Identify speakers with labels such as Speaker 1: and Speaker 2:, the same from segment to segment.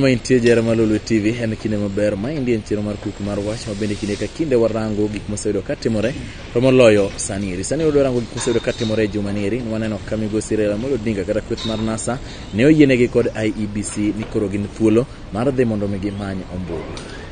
Speaker 1: Ma intie jera mar Lolwe TV en kinde maber. Ma endi en chenro mar kuku mar wach ma bende kinde ka kinde warango gik moseyudo ka timore to moloyo sani eri. Sani wadwa rango gik moseyudo ka timore e juma ni eri. Ne Waneno ka migosi Raila Amolo Odinga kata kweth mar NASA ne oyienegi kod IEBC ni koro gin thuolo mar dhi mondo mi gimany ombulu.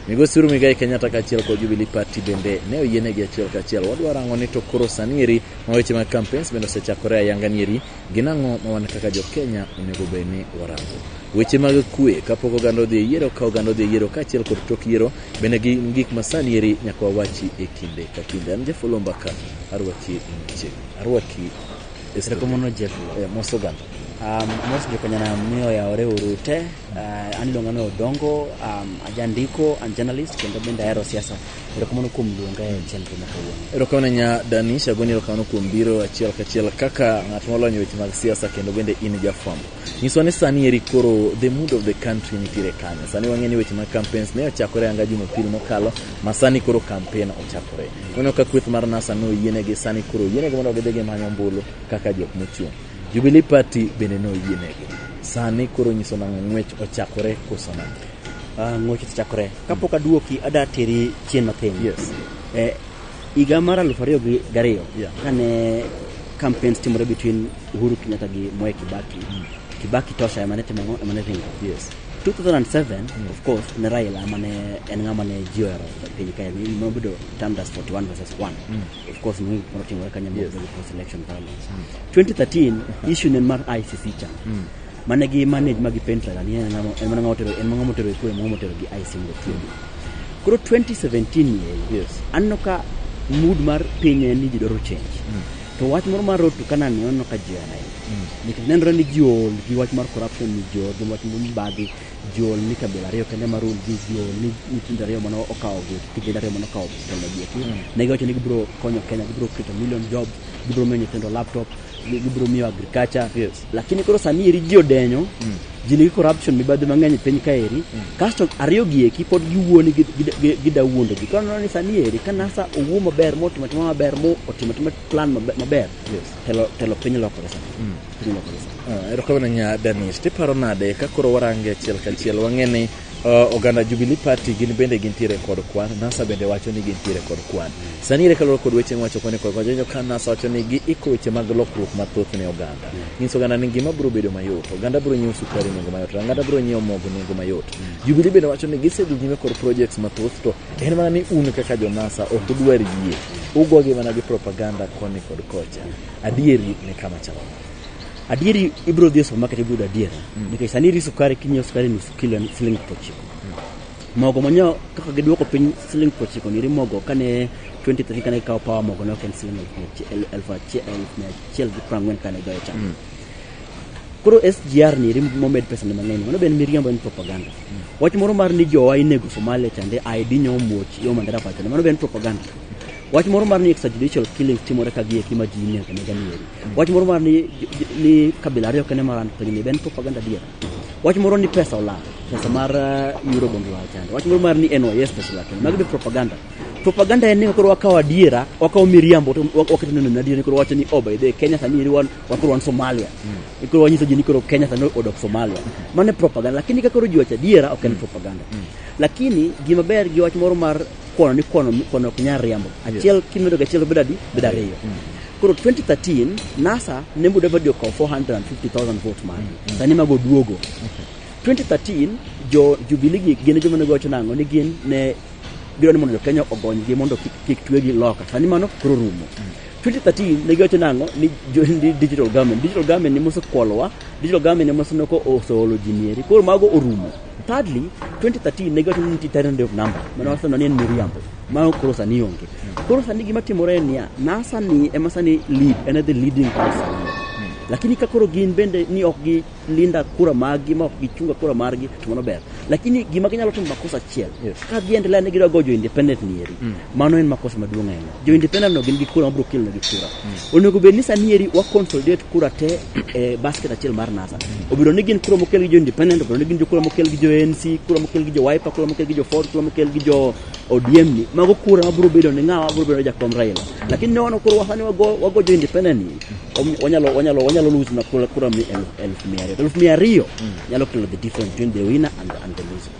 Speaker 1: Migosi Uhuru Muigai Kenyatta kaachiel kod Jubilee Party bende ne oyienegi achiel kachiel. Wadwa rango ni to koro sani eri ma weche mag campaigns bende osechakore ayanga ni eri Gin ang'o ma wan kaka jo Kenya onego bed ni warango? Weche mag kwe kapok oganda odhi e yiero, ka oganda odhi e yiero kaachiel kod tok yiero bende gin gik ma sani eri nyaka wawachi e kinde ka kinde. An Jeff Oloo Mbaka arwaki machiegni, arwaki e studio. Erokamano
Speaker 2: Jeff. Eh, Mos oganda.
Speaker 1: Um, mos
Speaker 2: jokanyana miyo yawore uru te uh, an iluonga ni odongo um, ajandiko and journalist kendo bende ahero siasa Erokamano kuom luonga e chenro ma kawuono. Erokamano nya Danisha
Speaker 1: goni erokamano kuom biro achiel kachiel kaka ng'at molonyo weche mag siasa kendo bende in jafwambo. Nyiswa ni sani eri koro the mood of the country nitiere kanyo. Sani wang'e ni weche mag campaigns ne ochakore anga Jumapil mokalo ma sani koro campaign ochakore. Wano ka kweth mar NASA no yienegi sani koro yienegi mondo gidhi gimanyo ombulu kaka jok mochung'. Jubilee Party bende no yienegi. Sani koro nyiso nang'o ng'wech ochakore koso nang'o? Ah, ng'wech ochakore.
Speaker 2: Kapok aduoki ada teri chien matin. Yes. Eh,
Speaker 1: higa
Speaker 2: mar aluf ariyo gi gariyo Yeah. kane campaigns timore between Uhuru Kenyatta gi Mwai Kibaki. Kibaki tosha emane timo ang'o? emane ringo. Yes. 2007 of course ne Raila mane en ng'ama ne ji ohero e piny Kenya ni nobedo termed as 41 versus 1 of course ni moro timore Kenya Yes. yes. post election violence 2013 issue ne en mar ICC chan mane gi manage magi pentra ni en ng'ama en mana ng'ama otero en ng'ama otero ekwe ng'ama otero gi ice mondo tiegi koro 2017 ni yes anno
Speaker 1: ka
Speaker 2: mood mar piny en ni ji dwaro change mm. to wach moro mar road to Canaan ni anno ka ji ana mm. nikech nenore ni ji ol gi wach mar corruption ni ji ol gi wach mar mibadhi ji ol ni kabila ariyo kende mar ol gi ji ol ni nyithindo ariyo mano okawo gi kijende ariyo mano okawo kendo gi eki mm. ne giwacho ni gibiro konyo Kenya gibiro keto million jobs gibiro miyo nyithindo laptop gibiro miyo agriculture yes lakini koro sani eri ji odenyo ji nigi corruption mibadhi mang'eny e piny kaeri kasto ariyo gi eki pod giwuoni gi- gi- gi- gida wuondo ji koro neno ni sani eri ka nasa owuo maber motimo atima maber mo otimo atima plan mabe- maber Yes. telo telo piny lokore sani piny lokore sani Ah, erokamano nya danis
Speaker 1: tiparo nade ka koro warange achiel kachiel wang'e ni Uh, oganda Jubilee Party gin bende gintiere kod kwan, NASA bende wacho ni gintiere kod kwan. Sani ere kaluwore kod weche miwacho koni kod kwan, jonyo ka NASA wacho ni giiko weche mag lokruok mathoth ne oganda. Nyiso oganda ni ngima biro bedo mayot, oganda biro nyiewo sukari nengo mayot, oganda biro nyiewo mogo nengo mayot. Jubilee bende wacho ni gisedhi nyime kod projects mathoth to en mana ni un kaka jo NASA ok udwar yie. Ugogi mana gi propaganda koni kod kocha. Adieri ni kama chalo. Adieri
Speaker 2: ibiro dhi e supermarket ibiro yudo adiera. Mm. Nikech sani iri sukari kinyiewo sukari nus kilo en siling prochiko. Mm. Mogo manyo kaka giduoko piny siling prochiko ni iri mogo kane 2013 kane kawo power mogo ne ok en siling elfu achiel elfu mia achiel gi prang'wen kane goyo chama. Mm. Koro SGR ni iri momed pesa ni mang'eny mano ben miriambo en propaganda. Mm. Wach moro mar ni jowa inego Somalia chande ID nyo muoch yo mandara pacho mano ben propaganda. Wach moro mar ni extrajudicial killings timore ka gie kima ji nie kama janieri. Wach moro mar ni ni kabila ariyo kene maran piny ni ben propaganda dier. Wach moro ni pesa ola, pesa mar uh, euro bondo la chande. Wach moro mar ni NYS pesa la kende. Mago be propaganda. Propaganda en ni koro wakawo adiera, wakawo miriambo to wak- waketo neno adiera ni koro wacho ni oh by the way, Kenya sani eri wan wan koro wan Somalia. Ni Koro wanyiso ji ni koro Kenya sani odok Somalia. Mano e propaganda lakini ka koro ji wacho adiera ok en propaganda. Lakini gima ber gi wach moro mar kwano ni kwano kwano ok nyal riambo achiel kimedo gi achiel bedo adi bedo ariyo koro 2013 nasa ne muda badi okawo 450000 vote mare sani mago duogo 2013 jo jubilee gi gin joma ne gocho nang'o ni gin ne gidwa ni mondo jo kenya ogonygi mondo kik, kik twegi loka sani mano koro rumo 2013 ne giwacho nang'o ni jo- ni digital government digital government ne mosekwolowa digital government ne mosenoko oseolo ji mieri koro mago orumo Thirdly, 2013 ne giwacho ni nitie tyrant day of number mane wawacho ni en miriambo ma koro sani onge. Koro sani gima timore en niya, NASA ni ema sani lead en e the leading party sani. Lakini ka koro gin bende ni ok gi linda kura margi ma ok gichunga kura margi to mano ber. Lakini gima ginyalo timo makosa achiel Yes. ka giendelea ni gidwa gojo independent nieri mano en makosa maduong' ahinya. jo independent no gin gi kura mabiro kelo negi kura onego bed ni sani eri wa consolidate kura te e basket achiel mar NASA obedo ni gin kura mokel gi jo independent obedo ni gin jo kura mokel gi jo ANC kura mokel gi jo Wiper kura mokel gi jo Ford kura mokel gi jo ODM ni mago kura mabiro bedo ni ng'awa biro bedo ni jakom Raila lakini ne wano koro wasani wago wago jo independent ni om- wanyalo wanyalo wanyalo lose na kura kura mi elfu elfu mia ariyo elfu mia ariyo nyalo kelo the difference between the winner and the, and the loser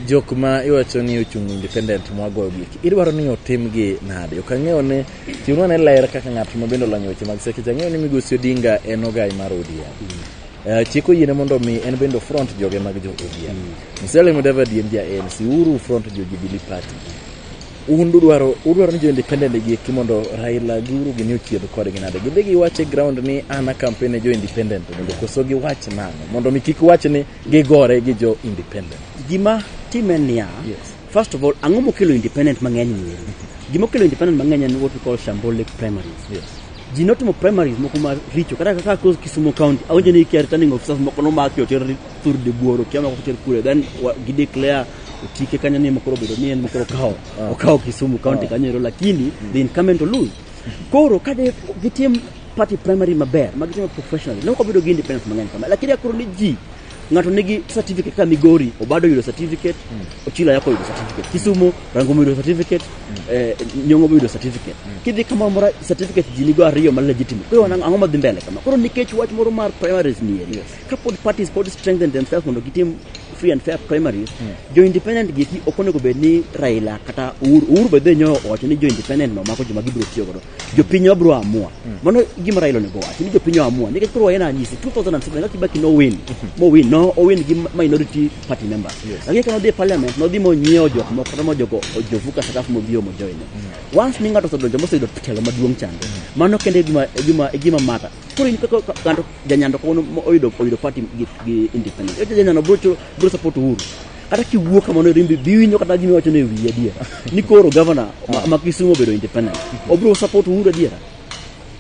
Speaker 2: jok
Speaker 1: ma iwacho ni ochung' independent mwagoyo gik idwaro ni otim gi nade ok ang'eyo ni chiwnwa ne ler kaka ng'at ma bende olonyo weche mag sekeche ang'eyo ni migosi odinga en ogai mar odm Eh, chik oyiene mondo mi en bende ofront joge mag jo odm musalia mudavadi en ja anc uru front jo jubilee party un udwaro udwaro ni jo independent gi eki mondo raila gi uru gini ochied kodgi nade gidhi giwache ground ni an akampen ne jo independent mondo koso giwach nang'o mondo mi kik wach ni gigore gi jo independent. Gima time
Speaker 2: niya, yes. first of all, ang'o mokelo independent mang'eny mieri? Mm-hmm. Gima okelo independent mang'eny en what we call Shambole primaries. Yes. Ji notimo primaries moko ma richo kata kaka close Kisumu County awinjo ni kia returning officers moko nomaki oter thur de buoro kia mako oter kure then gi declare otike kanyo ni mokoro bedo ni en mokoro kawo ah. okawo Kisumu County ah. kanyo ero lakini the incumbent to lose koro ka gitim party primary maber ma gitimo professionally ne ok wabedo gi independence mang'eny kama lakini akoro ni ji ng'ato nigi certificate ka migori obado yudo certificate ochila yako yudo certificate kisumu rangomo yudo certificate eh, nyong'o yudo certificate kidhi kamoro mora certificate ji nigo ariyo ma legitimate koro wana- ang'o madhi mbele kama koro nikech wach moro mar primaries ni eri ka pod parties pod strengthen themselves mondo gitim free and fair primaries jo independent gi eki ok onego bed ni raila kata uhuru uhuru bedhe nyoyo owacho ni jo independent no mako joma gibiro tiyo godo jopiny wabiro amua mano gima Raila onego wachi ni jopiny amua nikech koro waena anyisi 2007 kaka Kibaki no win mo win no o win gi minority party members lakini kano dhi parliament no dhi mo nyiewo jok moko kata mo jogo ojovuka sakafu mo bio mo join once ni ng'ato osedonjo moseyudo telo maduong' chande mano kende e gima e gima e gima mata koro in kaka ka- ng'ato janyando kono mo oyudo oyudo party gi, gi independent janyando bro bro support uhuru kata kiwuo kamano rimbi biwinjo kata gima wacho ne wiye adier ni koro gavana ma, ma Kisumu obedo independent obiro support Uhuru adier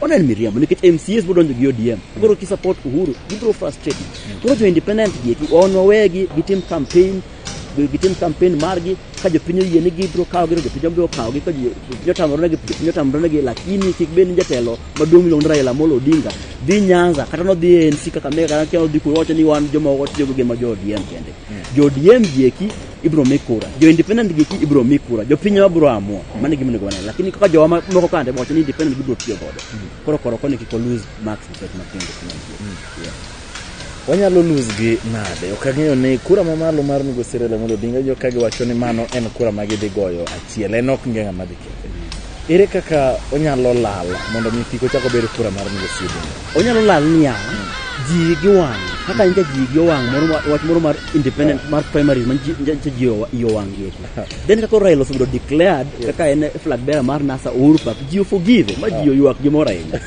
Speaker 2: onen miriambo nikech MCAs biro donjo gi ODM koro ki support Uhuru gibiro frustrate koro jo independent gi eki on wawegi gitim campaign gitim campaign margi ka jopiny oyie ni gibiro kawo giro jopiny obiro kawo gi ka jo- jopiny otamore negi jopiny otamore negi lakini kik bed ni jatelo maduong' miluongo ni Raila Amolo Odinga dhi Nyanza kata nodhi ANC kaka mega kata nodhi kuno wacho ni wan joma watiyo gi gin ma jo ODM kende Jo ODM gi eki ibiro mi kura, jo independent gi eki ibiro mi kura, jo piny wabiro amua. Mano e gima onego wanene. Lakini kaka jowa ma- moko kande wacho ni independent gibiro tiyo godo. Koro koro koni kik lose marks nikech ma piny independent. Yeah.
Speaker 1: wanyalo lose gi nade ok ang'eyo ni kura mamalo mar migosi Raila Amolo Odinga jo ka giwacho ni mano en kura ma gidhi goyo achiel en ok nge ng'ama dhi kethe Ere kaka onyalo lal mondo mi kik ochak obed kura mar miyo sibu? Onyalo lal niya,
Speaker 2: ji giwang'. Kaka nitie ji giwang' moro ma- wach moro mar independent mar primaries ma ji- nje- nje ji owa- ji owang' gi eki. Then kaka Raila osebedo declared kaka en flag bearer mar NASA Uhuru Park, ji oforgive ma ji oywak gimoro ahinya.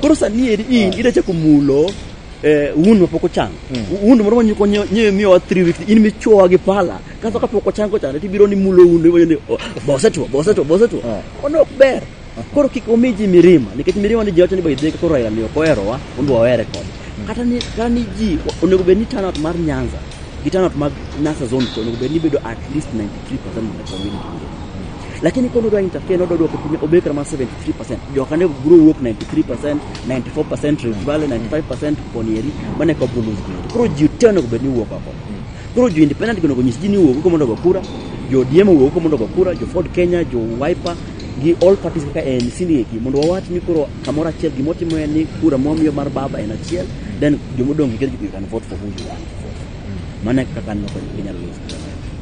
Speaker 2: Koro sani eri in idachako mulo eh, wound ma pok ochango wound moro ma nyuko nyewe miyowa three weeks in michuowa gi pala kaso ka pok ochango chande tibiro ni mulo wound iwacho ni "Oh, bosetwo bosetwo bosetwo Ah. ono ok ber koro kik omi ji mirima nikech mirima ni ji wacho ni by the way ka koro Raila ni ok oherowa ondo wawere kode kata ni kata ni ji onego bed ni turnout mar Nyanza gi turnout mag Nyanza zone to onego bed ni bedo at least 93% of the community lakini kono dwa interfere no dodwoko piny obet kama 73% joka ne bro wuok 93% 94% Rift Valley 95% Ponieri mane ko bulu koro ji te onego bed ni wuok oko koro jo independent onego nyis ji ni wuok oko mondo go kura jo ODM wuok oko mondo go kura jo Ford Kenya jo Wiper gi all parties kaka ANC ni eki mondo wawach ni koro kamoro achiel gima watimo en ni kura mwamiyo mar baba en achiel then jomodong' gi you can vote for who you want to vote mane kaka noko inyalo loso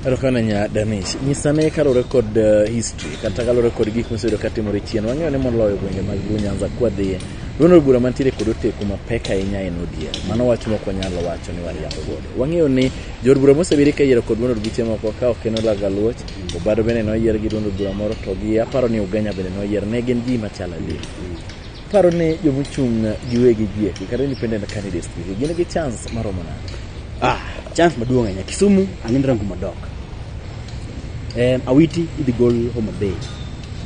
Speaker 2: Erokamano nya
Speaker 1: Danish. Nyisa ne kalure kod uh, history kata kalure kod gik mosebedo ka timore chien. Wang'eyo ni moloyo gwenge mag Luo Nyanza kwa dhiye. Duond od bura mantiere kod oteku mapek ahinya en ODM. Mano wach mok wanyalo wacho ni wariambo godo. Wang'eyo ni jood bura mosebedo ka yiero kod duond od buche moko ka ok en Olaga Luoch, Obado bende noyier gi duond od bura moro to gi aparo ni Ugenya bende noyier. Ne gin ji machal adier. Paro ni joma ochung' giwegi gieki kata independent candidates gieki gin gi chance maromo nade? Ah, chance maduong'
Speaker 2: ahinya. Kisumu ang'e rango madok. Eh, Awiti idhi gol Homa Bay.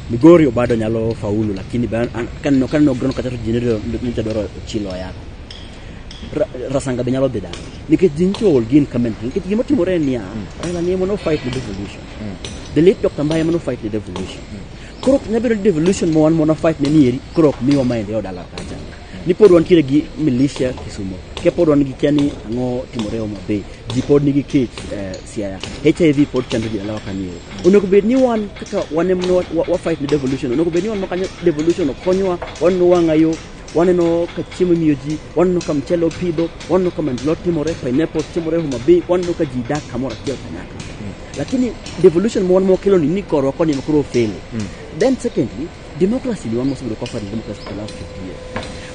Speaker 2: Migori obado nyalo faulu lakini ba- an- kaneno kaneno grono kata to jinero nyocha dwaro chilo yako. Ra- Rasanga be nyalo dhi dala. Nikech ji nyicho ol gin comment. Nikech gima timore en niya, Raila ni ema no fight the devolution. The late Dr. Mbaye ema no fight the devolution. Korok nya bedo devolution ma wan mwana fight ne ni eri korok miwa maendeleo dala kacha. Ni pod wan kire gi militia Kisumo. Ke pod wan gi kani ango timore Homa Bay. Ji pod nigi kech eh, Siaya. HIV pod chando ji dala kanyo. Onego bed ni wan kaka wan em wa, wa, wa fight ne devolution. Onego bed ni wan makanyo devolution okonyowa wan no wanga yo waneno ka chiemo imiyo ji waneno ka mchele opidho waneno ka mandelot timore pineapple timore Homa Bay waneno ka ji dak kamoro achiel kanyakla lakini devolution ma wan mawakelo ni ni korwa koni ema koro ofele then secondly democracy ni wan mosebedo kwa fadi democracy for the last 50 years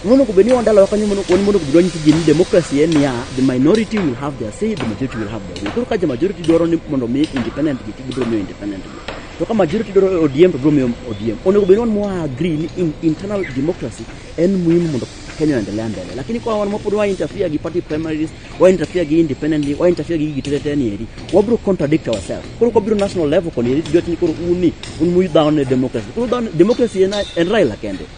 Speaker 2: monego bed ni wan dalawa kanyo mono- wan mondo bed wanyisi ji ni democracy en niya the minority will have their say the majority will have their way koro ka ja majority dwaro ni mondo mi independent gi to gibiro miyo independent gi to ka majority dwaro odm to biro miyo odm onego bed ni wan mwa agree ni in, internal democracy en muhimu mondo kenya oendelea mbele lakini kwa wan mapod wa interfere gi party primaries wa interfere gi independently wa interfere gi gitete ni eri wabro contradict ourselves koro kobiro national level koni eri jot ni koro uni un mu down ne democracy koro down democracy en en Raila kende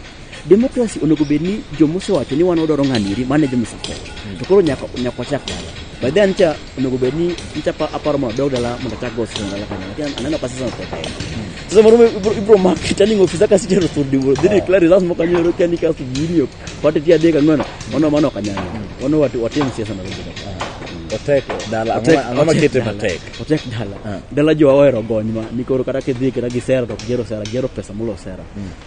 Speaker 2: democracy onego bed ni jomosewacho ni wan wadwaro ng'ani eri mane jomosewacho to koro nyaka nyaka wachak dala by then cha onego bed ni nicha pa- aparo mondo adog dala mondo achak go sirkal dala kanyo lakini aneno ka sasa nataka yeye sasa moro ibro mak turning officer kasi jero turdi bro dini clear results mo kanyo ro kani kasi jini Watu pia dega ngwana, wana wana kanyana. Wana watu watimu siasa na rumbu. Otek
Speaker 1: dala Otek- ang'o ma otek kete dala. matek? Otek dala. Ah.
Speaker 2: Dala jo awero gony ma nikoro kata kidhi kata gi sera to ok gero sera, gero pesa mulo sera.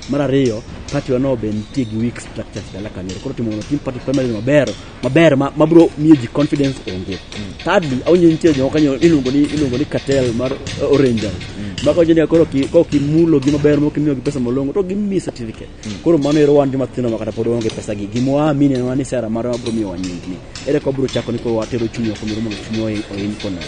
Speaker 2: Mar ariyo, party wano be nitie gi weak structures dala kanyo. Koro timo no team party primary maber, maber ma mabro miyo ji confidence onge. Thirdly, awinjo nitie jo kanyo iluongo ni iluongo ni cartel mar uh, Rangers. Maka onjo ni koro ki ko kimulo gi maber mok imiyo gi pesa molongo to gimiyi certificate. Koro mano ero wan joma tindo makata pod waonge pesa gi gima waamini en mana ni sera mare wabiro miyo wanyingni. Ere ka wabiro chako ni koro watero chunywa kumoro mondo chunywa ohi- ohin kono.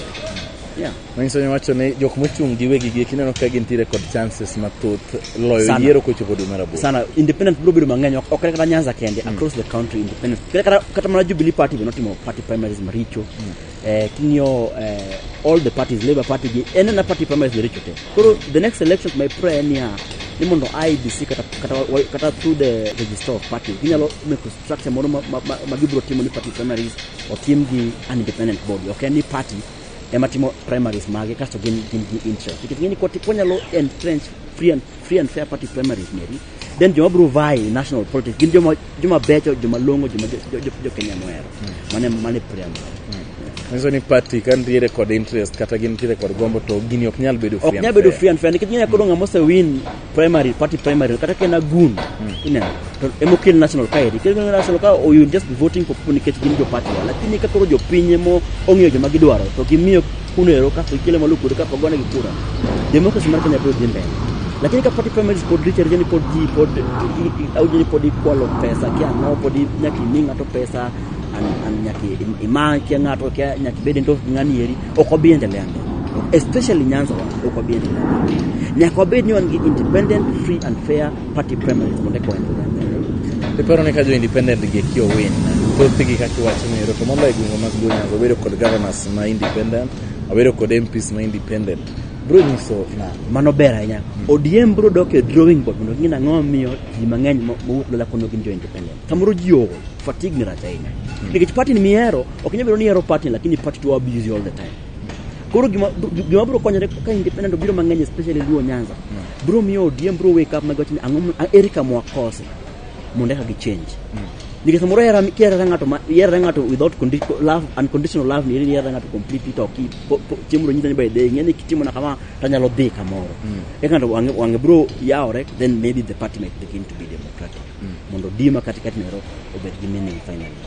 Speaker 2: Yeah. Manyiso ni wacho ni
Speaker 1: jok mochung' gi wegi gi kineno ka gintiere kod chances mathoth loyo Sana. yiero kochopo dwe mar aboro. sana independent biro bedo
Speaker 2: mang'eny ok ok kata nyanza kende across the country independent kata kata mana jubilee party be notimo party primaries maricho eh, king'iyo eh, all the parties labour party gi en ena party primaries richo te koro the next election my prayer en niya ni mondo IBC kata, kata, wa- kata through the register of party ginyalo make structure moro ma, ma, ma, ma gibiro timo ni party primaries otim gi an independent body ok en ni party ema timo primaries mage kasto gin gin gi interest nikech ng'eni kwati- kwanyalo entrench free and free and fair party primaries meri then joma bro vai national politics gin joma joma becho joma longo joma jo Kenya moero mane mane primaries nyiso
Speaker 1: ni party ka nitiere kod interest kata gin nitiere kod gombo to gini ok nyal bedo ok nyal bedo free and fair nikech nyanya
Speaker 2: kodo ng'ama ose win primary party primary kata kena gun hmm. ineno to emo kel national ka eri kel national ka or you just voting for people nikech gin jo party lakini ka koro jopiny emo ong'eyo joma gidwaro to gimiyo kuno ero kapo ikele malo kuno kapo gone gi kura democracy mar Kenya biro dhi mbele lakini ka party primaries pod richo richo ni pod ji pod aujo ni pod ikwalo pesa kia ng'awo pod nyaka imi ng'ato pesa an- an- nyaka im- ima kia ng'ato kia nyaka ibed endorsed gi ng'ani eri ok wabi endelea mbele especially Nyanza wa ok wabi endelea mbele nyaka wabed ni wan gi independent free and fair Party primary kuonde kwa The paro ni ka jo independent
Speaker 1: gi ki owin thoth gi kaki wach ni ero to moloyo gweng'o mag Gonyango obedo kod governors ma independent obedo kod MPs ma independent bro nyiso na mano ber ahinya
Speaker 2: ODM bro dok e drawing board mondo ging'e ang'o miyo ji mang'eny mowuok lola kono gin jo independent kamoro ji ogo fatigue ni rach ahinya nikech party ni mihero ok nyal bedo ni ihero party lakini party to abuse you all the time Koro gima gima bro konyore ka independent obiro mang'eny especially Luo Nyanza. Bro miyo ODM bro wake up mag wachni ang'o ma- eri kama wakose mondo eka gi change. Nikech samoro hera kiera ng'ato ma hera ng'ato without condi- love unconditional love ni hera ng'ato completely to ki po- po- chiemo ro nyitani by day ng'eni kitimo na kama tanyalo dhi kamoro. Eka ng'ato wange wange bro yawore then maybe the party might begin to be democratic. Mondo dima katikati nero obed gi meaning finally.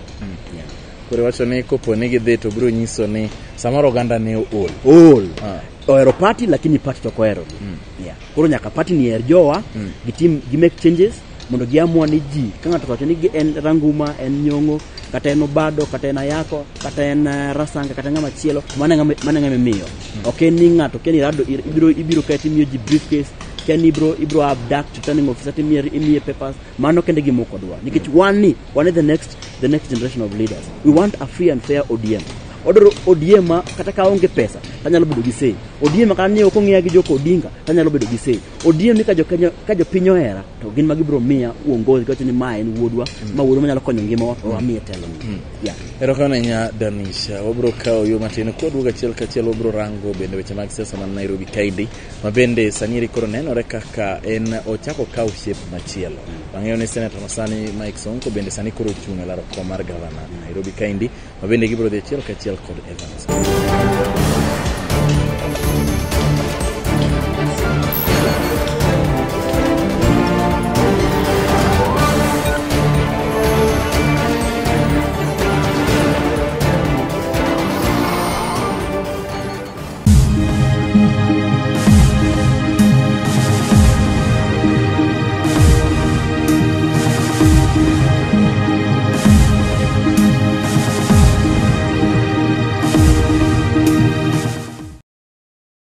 Speaker 2: Yeah. Koro wacho ni
Speaker 1: kopo ni gidhi to biro nyiso ni samoro oganda ne ool. Ool. Ah.
Speaker 2: Ohero party lakini party to ok oherogi. Mm. Yeah. Koro nyaka party ni her jowa, mm. gitim, gi make changes mondo giamua ni ji ka ng'ato owacho ni en ranguma, en nyong'o, kata en obado, kata en ayako, kata en eh, rasanga, kata ng'ama chielo, mano ng'ama imiyo. Mm. Ok en ni ng'ato, ok en irado, ibiro, ibiro kae timiyo ji briefcase, kia ni ibiro, ibiro abduct returning officer timiye, imiye papers, mano kende gimoko dwa. Nikech mm. wan ni Wan e the next, the next generation of leaders. We want a free and fair ODM. Odoro ODM ma kata ka onge pesa tanyalo bedo gi sei. ODM ma kata ni ok ong'eya gi Joko Odinga tanyalo bedo gi sei. ODM ni ka jo Kenya ka jo piny ohera to gin ma gibiro miya uongozi kawacho ni ma en wuodwa ma wuodwa manyalo konyo ngimawa to wamiye telo ni. Yeah. Erokamano ahinya
Speaker 1: Danisha. Wabiro kawo yo matin kwaduogo achiel kachiel wabiro rango bende weche mag siasa man Nairobi kaendi ma bende sani eri koro nenore kaka en ochako kawo shep machielo. Wang'eyo ni senata ma sani Mike Sonko bende sani koro ochung' e laro kom mar gavana Nairobi kaendi ma bende gibiro dhi achiel kachiel kod Evans.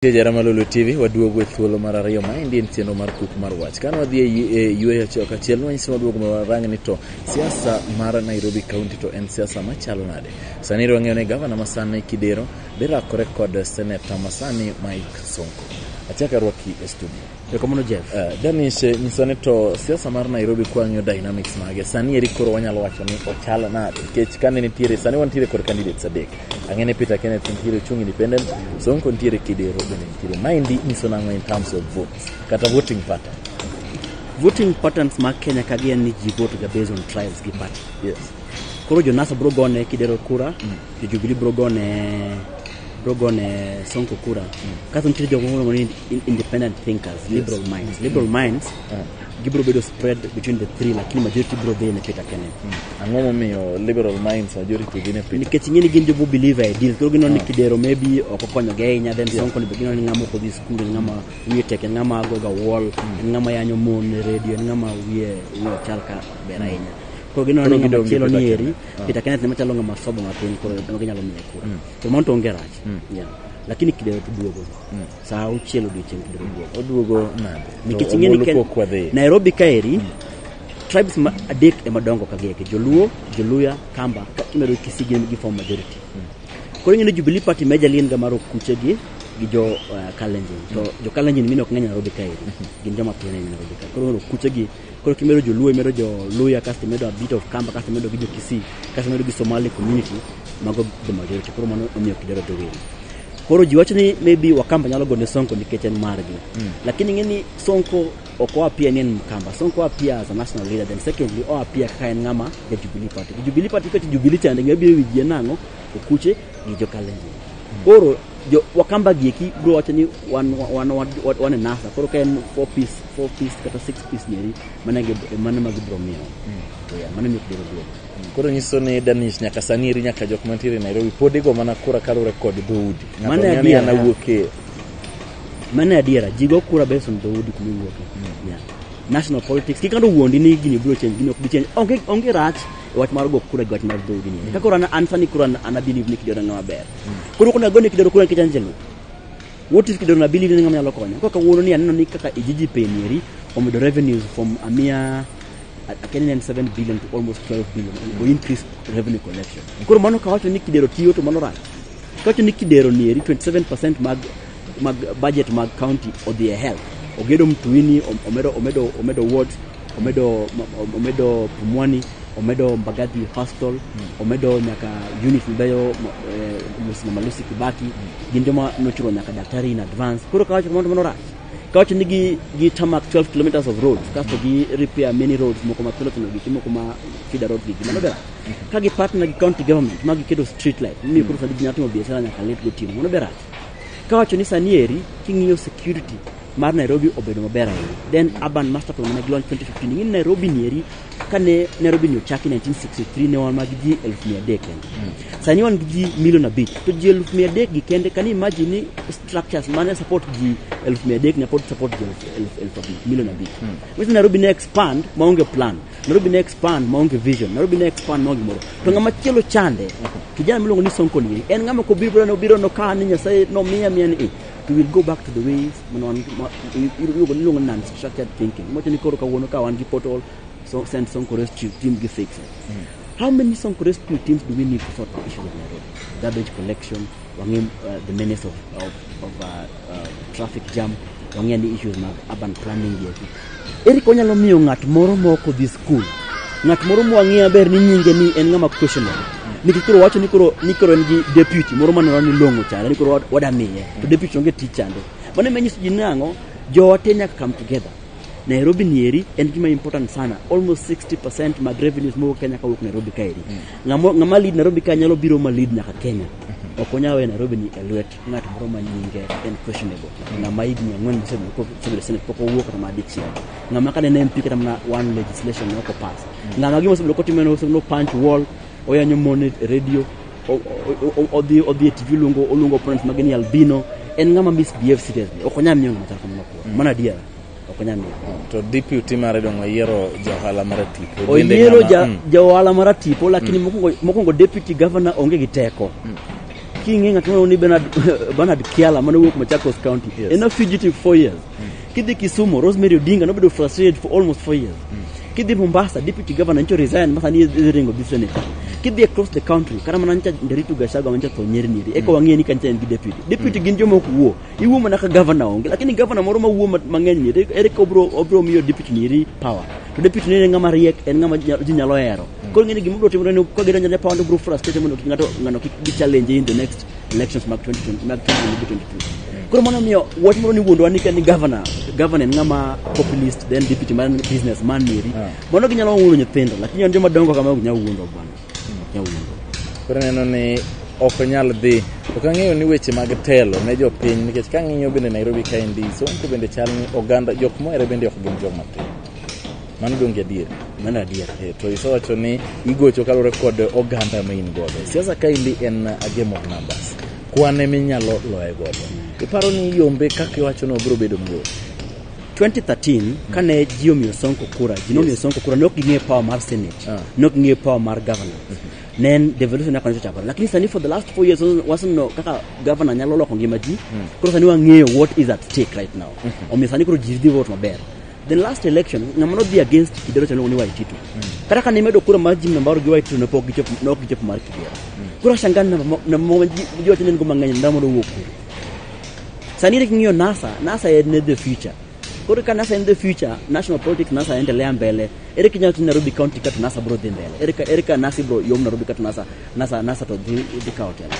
Speaker 1: Jara Malolo TV waduogo e thuolo mar ariyo ma endi en chenro mar kuk mar wach. Kane wadhi e yu- e yueyo achiel kachiel nwanyiso waduogo ma warang ni to siasa mar Nairobi County to en siasa machalo nade. Sani ero wang'eyo ni gavana ma sani Kidero Birakore kod seneta masani Mike Sonko. Achak arwaki e studio. Erokamano Jeff. Uh,
Speaker 2: Dennis, eh, nyiso ni
Speaker 1: to siasa mar Nairobi kwang'yo dynamics mage. Sani eri koro wanyalo wacho ni ochal na nikech kane nitiere sani wantiere kod candidates adek. Ang'ene Peter Kenneth nitiere chung independent, Sonko nitiere Kidero bende nitiere. Maendi nyiso nang'o in terms of votes kata voting pattern. Voting
Speaker 2: patterns mag Kenya ka gi en ni ji vote ga based on tribes gi party. Yes.
Speaker 1: Koro Jonas
Speaker 2: bro gone Kidero kura. Mm. jo Jubilee biro gone biro gone Sonko kura kaso nitie jok moko miluongo ni in- independent thinkers liberal minds liberal minds gibiro bedo spread between the three lakini majority biro dhi ne Peter Kenneth Ang'o momiyo
Speaker 1: liberal minds majority gin e piny? nikech ing'e ni gin jobu believe
Speaker 2: e deal koro gineno ni kidero maybe ok okonyogi ahinya then sonko ni be gineno ni ng'ama ok odhi skul en ng'ama wiye tek en ng'ama goga wall en ng'ama yanyo mon e redio en ng'ama wiye wiye ok chal ka ber ahinya koro gineno ni Koro ng'ama gidong' gi chielo Peter ni eri Peter Kenneth ne machalo ng'ama sobo matin koro ema ginyalo miye kura. To mano to onge rach. Yeah. Lakini kidewo to duogo. Saa auchiel odiochieng' kidewo duogo. oduogo nade
Speaker 1: Nikech To ing'e ni Omolo Ken- pok
Speaker 2: wadhi Nairobi kaeri tribes ma adek ema dongo ka gieke Joluo, Joluya, Kamba ka imedo Kisii gin gi form majority. Koro ing'e ni Jubilee Party majorly en ga mar Okuche gi gi jo uh, Kalenjin. To jo Kalenjin mine ok ng'eny Nairobi kaeri. Gin joma piny ahinya Nairobi kaeri. Koro Okuche gi Koro kimedo joluo imedo jo luya kasto imedo a bit of kamba kasto imedo gi jo kisii kasto imedo gi somali community mago the majority koro mano omiyo kidero dho welo koro ji wacho ni maybe wakamba nyalo gone sonko nikech en margi mm. lakini ing'e ni sonko ok oapia ni en mkamba sonko oapia as a national leader then secondly oapia kaka en ng'ama ja jubilee party gi jubilee party kati jubilee chande ng'e biro wijie nang'o okuche gi jokalenjin mm. koro jo wakamba gieki bro wacho ni wan wan wan wan e nasa koro ka en four piece four piece kata six piece nyeri mana gi mana mag bro miyo yeah, mana miyo biro duogo koro nyiso ni
Speaker 1: danish nyaka sani iri nyaka jok mantiere e nairobi pod igo mana kura kaluwore kod dhoudi Ng'ato Mano ng'eyo ni adiera. an awuok e
Speaker 2: mano e adiera ji go kura based on dhoudi kuma iwuoke yeah. national politics kikando wuondi ni gini biro change gini ok bi change onge onge rach e wach mar go kura gi wach mar dhoudi ni kaka koro an- an sani koro an- an abelieve ni kidoro ng'ama ber koro kuna go ni kidoro kura nikech an jaluo What if kidono abili ni ng'ama nyalo konyo? Kaka wuono ni aneno ni kaka ijiji penieri omedo revenues from a mere akeni ne en 7 billion to almost 12 billion go increase revenue collection. Koro mano kawacho ni kidero tiyo to mano rach. Kawacho ni kidero nieri 27% mag mag budget mag county odhi e health. Ogedo mtuini, om- omedo omedo omedo wards omedo omedo Pumwani omedo Mbagathi Hostel omedo nyaka unit mabeyo Musina Malusi Kibaki gin joma nochulo nyaka daktari in advance koro kawacho mondo mondo rach kawacho ni gi gi tarmac 12 kilometers of roads kasto gi repair many roads moko ma piloto gi timo kuma feeder road gi mano bera ka gi partner gi county government ma giketo street light ni koro sani ji nyalo timo biashara nyaka late gotieno mano bera Kawacho ni sani eri king'iyo security mar Nairobi obedo maber ahinya. Then urban master plan mane gilony 2015 ing'e ni Nairobi ni eri kane Nairobi ni ochaki 1963 ne wan mag ji 300 kende. Sani wan gi ji milion abich to ji 300 gi kende kan imagine ni structures mane support ji 300 na pod support ji 1000 milion abich. Which Nairobi ne expand maonge plan. Nairobi ne expand maonge vision, Nairobi ne expand maonge moro. To ng'ama chielo chande, kijana miluongo ni Sonko Nyiri, en ng'ama kobiro no biro no ka ni Nyasaye no miya miya ni eh, to we'll go back to the ways mano wan ma- i- i- iluongo niluongo ni non-structured thinking. Mocho ni koro kawuono ka wan gi portal, so send Sonko Rescue team gi fix it. How many Sonko Rescue teams do we need to sort the issues of Nairobi? Garbage collection, wang'e uh, the menace of, of, of uh, traffic jam wang'e ni issues mag urban planning gi eki eri konyalo miyo ng'at moro mok odhi skul ng'at moro mwang'eyo maber ni nyinge ni en ng'ama questionable nikech koro wacho ni koro ni koro en gi deputy moro maneno ni long'o chande ni koro wad- wadamiye to deputy onge tich chande mano ema nyiso ji nang'o jowa te nyaka come together nairobi ni eri en gima important sana almost 60 percent mag revenues mowuok kenya kawuok nairobi ka eri Ng'amo- ng'ama lead nairobi ka nyalo biro ma lead nyaka kenya ok onyal weyo nairobi ni e lwet ng'at moro ma nyinge en questionable ng'ama higni ang'wen mosebedo senate pok owuok kata ma dichiel ng'ama kane ne mp kata mana one legislation ne ok opass ng'ama gima osebedo kotimo en osebedo punch wall oyanyo mon e radio o- o- o- odhi odhi e tv oluongo oluongo opponents mage ni albino en ng'ama misbehave seriously ok onyal miyo ng'ama chal kamano kuor mana adiera ok onyal miyo to DPUT
Speaker 1: mare dong oyiero jaohala mara tipo Bende oyiero ng'ama-
Speaker 2: ja, Mm. ja ohala mara tipo lakini mokwongo mokwongo deputy governor onge gi teko king'e ng'at moro ni Bernard, Bernard Kiala mane wuok Machakos County Yes. en a fugitive four years kidhi Kisumu Rosemary Odinga nobedo frustrated for almost four years kidhi Mombasa deputy governor ncho resign masa ni idhi ringo gi senator kidhi across the country kata mana ncha Nderitu Gachagua mancha tho nyeri nyeri eka wang'e ni kancha en gi deputy deputy gin joma ok wuo iwuo mana ka gavana onge lakini gavana moro mawuo ma- mang'eny ni ere- ere ka obro obro miyo deputy ni eri power to deputy ni en ng'ama riek en ng'ama nya- ji nyalo hero koro ng'eni gima obro timore ni ka gidonjo ne power to obro frustrate mondo kik ng'ato ng'ano kik gi challenge in the next elections mag 2020 mag 2022 koro mano miyo wach moro ni wuondwa ni ka ni gavana gavana en ng'ama populist then deputy man business man eri Yeah. mano ginyalo wuondo nyithindo lakini an joma dongo kama ok nyal wuondo bwana
Speaker 1: Koro neno ni ok onyal dhi. Ok ang'eyo ni weche mag telo ne jopiny nikech ka ang'iyo bende Nairobi kaendi Sonko bende chal ni oganda jok mohere bende ok gin joma tin. Mano donge adier? Mano adier. E,
Speaker 2: to isewacho ni
Speaker 1: igocho kaluwore kod oganda ma in godo. Siasa kaendi en a game of numbers. Kwan eminyalo loye godo. Iparo ni yombe kaka iwachono biro bedo mayot? 2013
Speaker 2: kane ji omiyo Sonko kura, ji nomiyo Sonko kura, ne ok ging'eyo power mar Senate, Ah. ne ok ging'eyo power mar governor. Ne en devolution yako nicho chakore. Lakini sani for the last four years waseneno- waseneno kaka governor nyalo loko ngima ji. Koro sani wang'eyo what is at stake right now. Omiyo sani koro ji dhi vote maber. The last election ng'ama nodhi against Kidero chano ni Waititu. Kata kane imedo kura mar Jim Nambaro gi Waititu ne pok gichopo ne ok gichopo mar Kidero. Koro ashangaa namba mo- namba ma ji ji wacho ni en go mang'eny namba mondo owuok kuro. Sani ile king'iyo NASA, NASA en the future. Koro ka NASA en the future, national politics NASA endelea mbele. Ere kinyalo timo Nairobi County kata NASA bro dhi mbele. Ere ka ere ka NASA bro yom Nairobi kata NASA NASA NASA to dhi dhi ka hotel.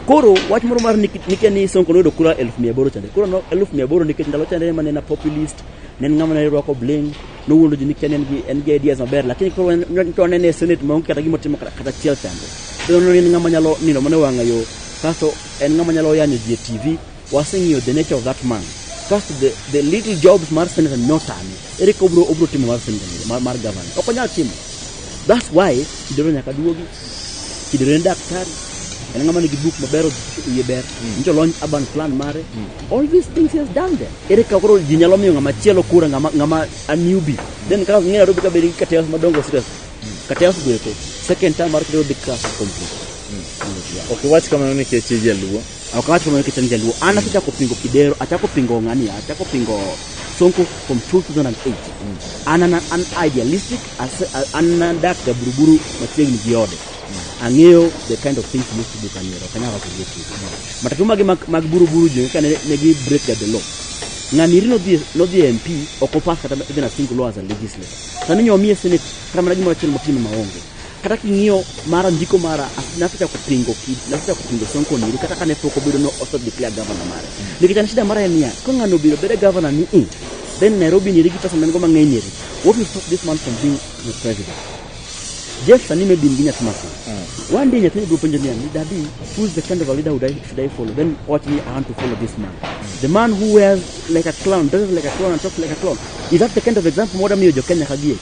Speaker 2: Koro wach moro mar nikia ni Sonko noyudo kura elfu mia aboro chande. Koro no elfu mia aboro nikech ndalo chande ema ne na populist, ne en ng'ama ne rwako bling, nowuondo ji nikia ne en gi en gi ideas maber, lakini koro en- en- to anene e Senate maonge kata gima otimo kata kata achiel chande. Koro ne en ng'ama nyalo nino mana e wang'a yo. Kasto En ng'ama nyalo yanyo ji e TV. Waseng'iyo the nature of that man. Kasto the, the little jobs mar senator notame. Ere ka obro, obro timo mar senator ni, mar, mar governor. Ok onyal timo. That's why Kidero nyaka duogi. Kidero en daktari. En ng'ama nigi buk maber iye ber. Njo lony urban plan mare. All these things he has done them. Ere ka koro ji nyalo miyo ng'ama chielo kura ng'ama ng'ama a newbie. Then kaka ng'ina robi ka beri ka tayos madongo serious. Ka tayos gweko. Second time mar kidero big class complete. Ok
Speaker 1: iwach kamano nikech ijaluo. Ok awach kamano nikech an
Speaker 2: jaluo. An asechako pingo Kidero, achako pingo ng'ani, achako pingo Sonko from 2008. An an an idealistic, ase- a- an nadak ga Buruburu machiegni gi ode. Ang'eyo the kind of things most people can hear. Ok anyal wacho gi otiko. Matatu magi mag, mag Buruburu jo kane ne gi break the law. Ng'ani iri nodhi nodhi e MP ok opass kata even a single law as a legislator. Sani nyomiye senate kata mana gimoro achiel motimo maonge. Kata king'iyo mara ndiko mara nasechako pingo kid nasechako pingo Sonko niri kata kane pok obedo no oso declare governor mare. Nikech an shida mara en niya ka ng'ano obiro bedo governor ni i then Nairobi niri gi pesa man-go mang'eny niri what will stop this man from being the president? Jeff sani maybe in gi nyathi matin. One day nyathini biro penjo niya ni daddy who is the kind of a leader would I, should I follow? Then watch me I want to follow this man. The man who wears like a clown, dresses like a clown and talks like a clown. Is that the kind of example mwada miyo jo Kenya kagie?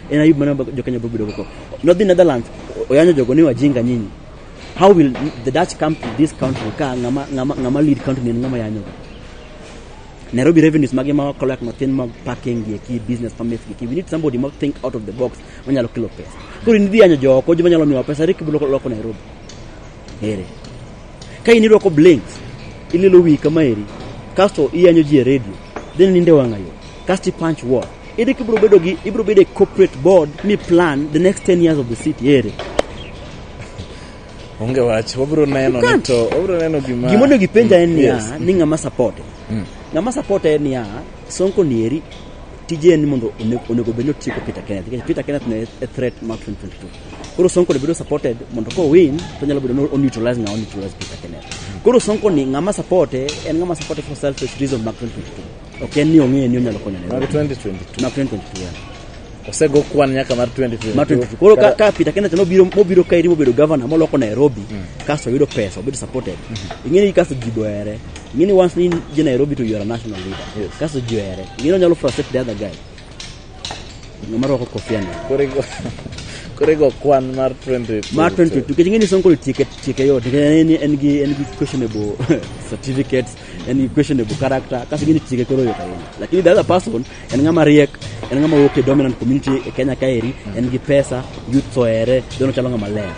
Speaker 2: En ayub mane jokenya biro bedo go. Nodhi Netherlands oyanyo jogo ni wajinga nyinyi. How will the Dutch come to this country ka ngama ngama ngama lead country ni ngama yanyo? Nairobi revenues mage ma wakalo yak mathin mag parking gi ki business permits gi ki we need somebody ma think out of the box manyalo kelo pesa. Koro nidhi yanyo jooko joma nyalo miwa pesa rikibilo loko Nairobi. Ere. Ka in irwako blinks ililo wi kama eri kasto iyanyo ji e radio then ninde wang'ayo kasto ipunch wall Ere kibro bedo gi ibro bedo e corporate board mi plan the next 10 years of the city ere.
Speaker 1: Onge wach, wabro neno ni to wabro neno gima Gima onego ipenja en
Speaker 2: niya Yes. ni ng'ama support. Mm. Ng'ama support en niya Sonko nieri tije en ni mondo one- onego bed ni otieko Peter Kenneth nikech Peter Kenneth ne e threat mar 2022. Koro Sonko ne bedo supported mondo ko win to nyalo bedo ni o neutralize ng'a o neutralize Peter Kenneth. Koro Sonko ni ng'ama support en ng'ama support for selfish reason mag 2022. Ok en ni ong'eyo ni onyalo konyo Nairobi. Mag 2022. Mag 2022.
Speaker 1: yeah.
Speaker 2: Osego
Speaker 1: kwan nyaka mar 2022. Mar 2022. Koro ka, ka Peter Kenneth
Speaker 2: nobiro mobiro kaeri mobedo governor moloko Nairobi kasto oyudo pesa obedo supported. Ing'e ni kasto ji bohere. Ing'e ni once in je Nairobi to you are a national leader. Yes. Kasto ji ohere.
Speaker 1: Ing'e ni
Speaker 2: onyalo frustrate the other guy. Ng'ama rwako kofia no. Koro igo-
Speaker 1: koro igo kwan mar 2022. Mar 2022 nikech ing'e ni
Speaker 2: Sonko tieke tieke yot nikech en en gi en gi questionable certificates en questionable character kasi gini chike koro yot ahinya lakini the other person en ng'ama riek en ng'ama wuok e dominant community e Kenya kaeri en gi pesa youth soere dono chalo ng'ama ler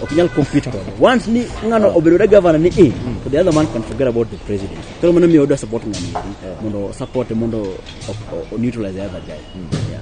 Speaker 2: ok nyal compete kode once ni ng'ano obedo da governor ni e to the other man can forget about the president koro mano miyo oda support ng'ani mondo support mondo o- o- o neutralize the other guy yeah.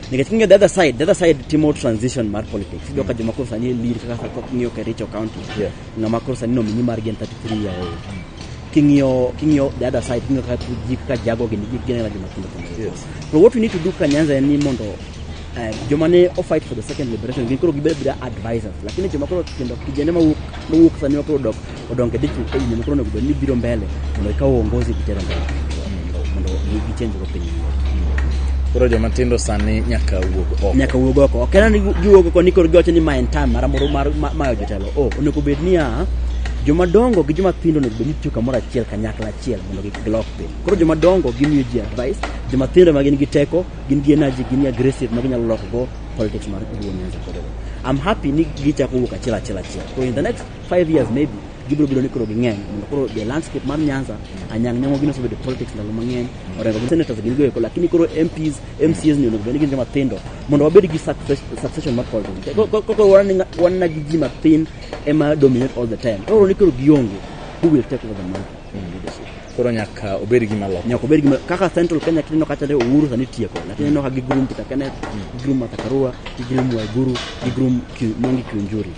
Speaker 2: Nikech king'iyo the other side, the other side timo transition mar politics. Iyudo ka joma koro sani e lead kaka ka king'iyo Kericho County, Yeah. ng'ama koro sani nomini margi en 33 year old. King'iyo king'iyo the other side, king'iyo kaka ji kaka jago gini ji gin joma tindo tindo. Yes. So what we
Speaker 1: need to do
Speaker 2: ka Nyanza en ni mondo eh, joma ne o fight for the second liberation gin koro gibed advisors lakini joma koro kendo kijende mawuok mawuok sani ma koro dok odonge dichwo ka yie mokoro onego bed ni biro mbele mondo ikaw uongozi gitero mbele mondo gichenj go piny koro
Speaker 1: joma tindo sani nyaka wuog oko nyaka wuog oko ok en ni giwuog oko
Speaker 2: ni koro giwacho ni ma en time mara moro mar ma- mayo jotelo o onego bed niya joma dongo gi joma tindo onego bed ni tiyo kamoro achiel kanyakla achiel mondo gi- gilok piny koro joma dongo gimiyo ji advice joma tindo ma gin gi teko gin gi energy gin gi aggressive ma ginyalo loko go politics mar Luo Nyanza kod Uganda. I'm happy ni gichako wuok achiel achiel achiel so in the next Five years maybe gibiro bedo ni koro ging'eny mondo koro the landscape mar Nyanza anyang' nyang'o gino osebedo politics ndalo mang'eny orengo gi senators gin goeko lakini koro MPs MCs ni onego bed ni gin joma tindo mondo wabed gi success- succession mar politics Ko- ko- koro wan ni- wan na gi ji mathin ema dominate all the time koro ni koro gionge who will take over the mantle in leadership Koro nyaka
Speaker 1: obed gima loko. Nyaka obed gima kaka Central Kenya kineno
Speaker 2: kacha ne Uhuru sani tieko. Lakini ineno ka gigrum Peter Kenneth, gigrum Martha Karua, gigrum Waiguru, gigrum Ki- Mwangi Kiunjuri.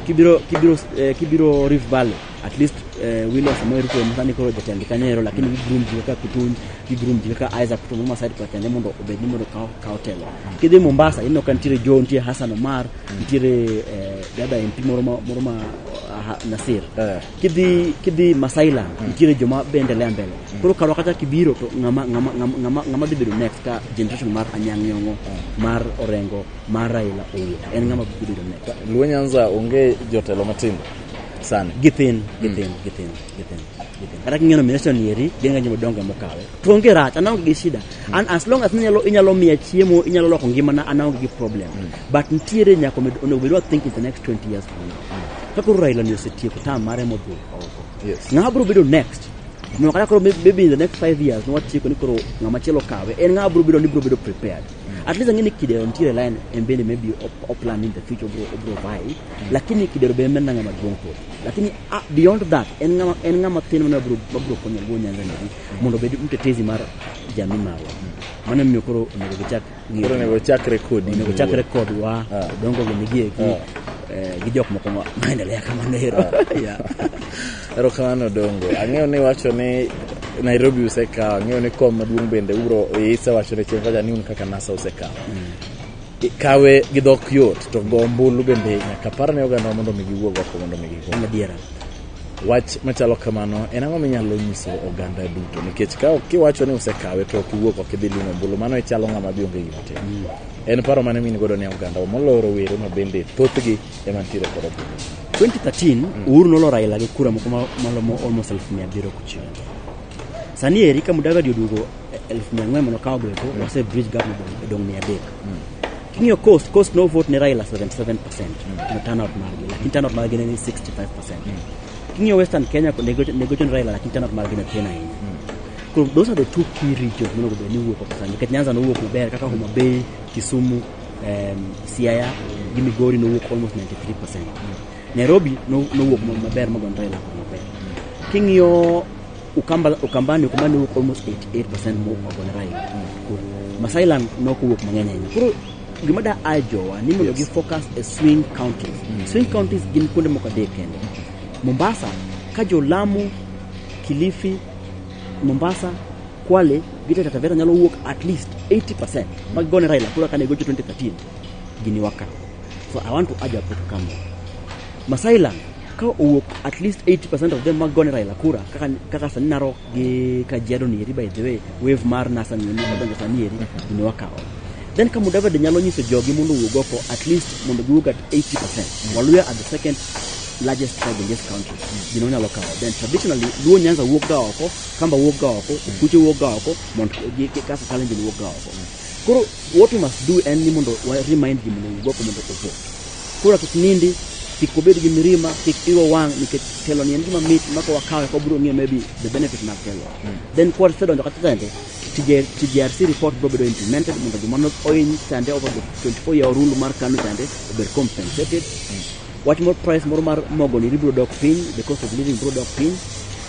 Speaker 2: Kibiro kibiro eh, kibiro Rift Valley at least eh, William Samoei Ruto ema sani koro jatend Kanyero lakini gigrum ji kaka Kutunj, gigrum ji kaka Isaac Ruto mama side kwa Kenya mondo obed ni mondo kaw kaw telo. Kidhi Mombasa ineno ka nitiere Joe, nitiere Hassan Omar, nitiere eh, dada MP moro ma moro ma ah, Nasir. Eh. kidhi kidhi Masailand mm. nitiere joma bende lea mbele mm. koro karwa kata kibiro to ng'ama ng'ama ng'ama ng'ama dhi bedo next ka generation mar Anyang' Nyong'o mm. mar Orengo mar Raila Owuor en ng'ama dhi bedo next Luo Nyanza onge
Speaker 1: jotelo matindo sana githin githin
Speaker 2: githin githin githin kata king'eno minister nieri gin ng'eny madongo mokawe to onge rach anaonge gi shida and as long as inyalo inyalo miya chiemo inyalo loko ngimana anaonge gi problem but nitiere nyaka omed- onego bedwa think in the next 20 years from now ka koro raila ni osetieko tam mare modhi oko Yes. ng'ama
Speaker 1: biro bedo next
Speaker 2: no kata koro may- maybe in the next five years nwatieko ni koro ng'ama chielo kawe en ng'ama biro bedo ni biro bedo prepared at least ang'eni kidero nitiere line en bende maybe op- oplan in the future obro obro vai lakini kidero be en ng'ama duong' pod lakini ah, beyond that en ng'ama en ng'ama thin mane mabro mabro konyo go nyanza ni mondo obed mtetezi mar jamii marwa mano miyo koro onego gichak koro onego chakre kodi onego chakre kodwa ah. dongo gi migi eki ah. eh, gi jok moko maendelea kamano ero ah. ero
Speaker 1: kamano dongo ang'eyo ni wacho ni nairobi usekawo ang'eyo ni kom maduong' bende uro isa wacho ne chieng' kacha ni un kaka nasa usekawo mm. kawe gi dhok yot to go ombulu bende nyaka par ne oganda mondo mi giwuog oko mondo mi gigo adiera
Speaker 2: Wach
Speaker 1: machalo kamano en ang'o minyalo nyiso oganda duto? Nikech ka ok iwacho ni usekawe to ok iwuok ok idhi limo ombulu, mano ichalo ng'ama bi onge gima timo. Mm. En paro mane min godo ne oganda moloyo rowere ma bende thothgi ema nitiere kod ombulu. 2013 mm.
Speaker 2: Uhuru nolo Raila gi kura moko malomo almost elfu mia abiriyo kochiel. Sani eri ka Mudavadi oduogo elfu mia ang'wen mondo kawo gweko wase bridge gap modong- odong' mia adek king'iyo cost cost no vote ne raila 77 percent no turnout margi lakini turnout margi ne ni 65 percent king'iyo western kenya ne gocho- ne gocho ni raila lakini turnout margi ne tin ahinya koro those are the two key regions monego bed ni wuok oko sana nikech nyanza nowuok maber kaka homa bay kisumu em, siaya gi migori nowuok almost 93 percent nairobi no- nowuok ma- maber magon raila maber king'iyo Ukamba, Ukambani, Ukambani wuok almost 88% more of Bonarai. Cool. Masai land nok wuok mang'eny ahinya. Koro gima da a jowa ni mondo gi focus e swing counties. Swing counties gin kuonde moko adek kende. Mombasa, ka jo Lamu, Kilifi, Mombasa, Kwale, Gita Taita Taveta nyalo wuok at least 80% mag gone Raila kura kane gocho 2013 gini waka. So I want to urge our people to come. Masai land ka owuok at least 80% of them mag gone Raila kura kaka kaka sani Narok gi Kajiado ni eri by the way wave mar NASA ni ni kadonjo sani eri ni wakawo then ka Mudavadi nyalo nyiso jogi mondo owuog oko at least mondo giwuog at 80% Waluya are the second largest tribe in this country gino onyalo kawo then traditionally Luo Nyanza wuok ga oko Kamba wuok ga oko Okuche wuok ga oko Mount gi- gi- Kasa Kalenjin wuok ga oko koro what we must do en ni mondo wa remind gi mondo owuog oko mondo ovote Kura kik nindi, kik obed gi mirima, kik iwe wang' nikech telo ni en gima mit ma ka wakawe ka wabiro ng'eyo maybe the benefit mag telo. Then kwa wasedonjo kata sende, TJ- TJRC report biro bedo implemented mondo joma ne ohiny sande over the 24 year rule mar KANU sande obed compensated. Wach moro price moro mar mogo ni biro dok piny, the cost of living biro dok piny.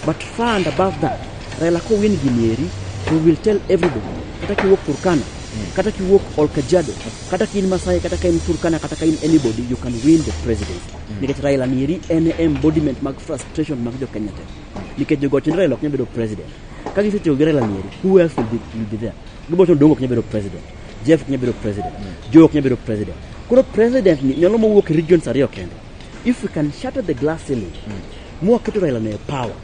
Speaker 2: But far and above that, Raila ko win gini eri, we will tell everybody. Kata kiwuok Turkana, kata kiwuok Olkajiado, Kata ka in Masai, kata ka in Turkana, kata ka in anybody, you can win the presidency. Nikech Raila nieri en e embodiment mag frustration mag jo Kenya te. Nikech jogo wacho ni Raila ok nyal bedo president. Ka gisetiyo gi Raila nieri, who else will be, will be there? Gilbert Odongo ok nyal bedo president. Jeff ok nyal bedo president. Joe ok nyal bedo president. Koro president ni nyalo mowuok e regions ariyo kende. If we can shatter the glass ceiling, mwaketo Raila ne power,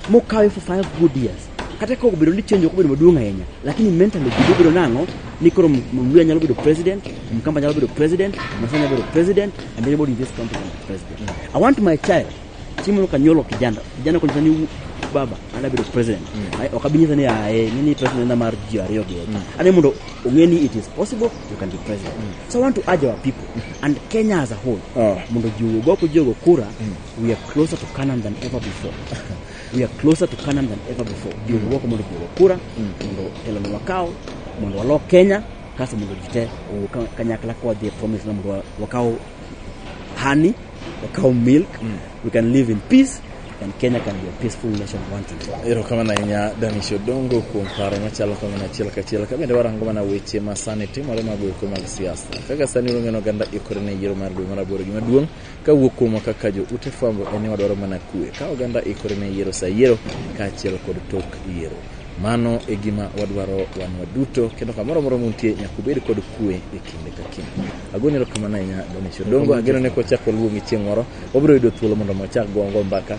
Speaker 2: Mokawe for five good years. Kata ka obedo ni change ok obedo maduong' ahinya, lakini mentally ji obedo nang'o ni koro Mluya nyalo bedo president, Mkamba nyalo bedo president, Masai nyalo bedo president, and everybody in this country can be president. I want my child, Chimolo Kanyolo kijana, kijana konyisa ni baba ana bedo president. Ai, Ok abinyisa ni ae, ni ni president na mar ji ariyo gi. Ane mondo ong'e ni it is possible you can be president. So I want to urge our people and Kenya as a whole Ah. mondo ji owuog oko ji ogo kura We are closer to Canaan than ever before. We are closer to Canaan than ever before. Ndio mm. wako mondo jiwo kura, mondo telo ni wakao, mondo walo Kenya, kaso mondo jite kanyakla kwa the promise na mondo wakao honey, wakao milk. Mm. We can live in peace and Kenya can be a peaceful nation once and for all. Erokamano ahinya Danish
Speaker 1: Odongo kuom paro machalo kamano achiel kachiel ka bende warango mana weche ma sani timore mag weche mag siasa. Kaka sani wang'eno oganda ikore ne yiero mar dwe mar aboro gima duong' Ka wuok kuomwa kaka jo ute fwambo en ni wadwaro mana kue ka oganda ikore ne yiero sa yiero kaachiel kod tok yiero. Mano e gima wadwaro wan waduto kendo kamoro amora muntie nyaka ubed kod kue e kinde ka kinde. Agoni erokamano ahinya Donisha Odongo, ageno ni kwachak waluongi chieng' moro wabiro yudo thuolo mondo mwachak go go mbaka.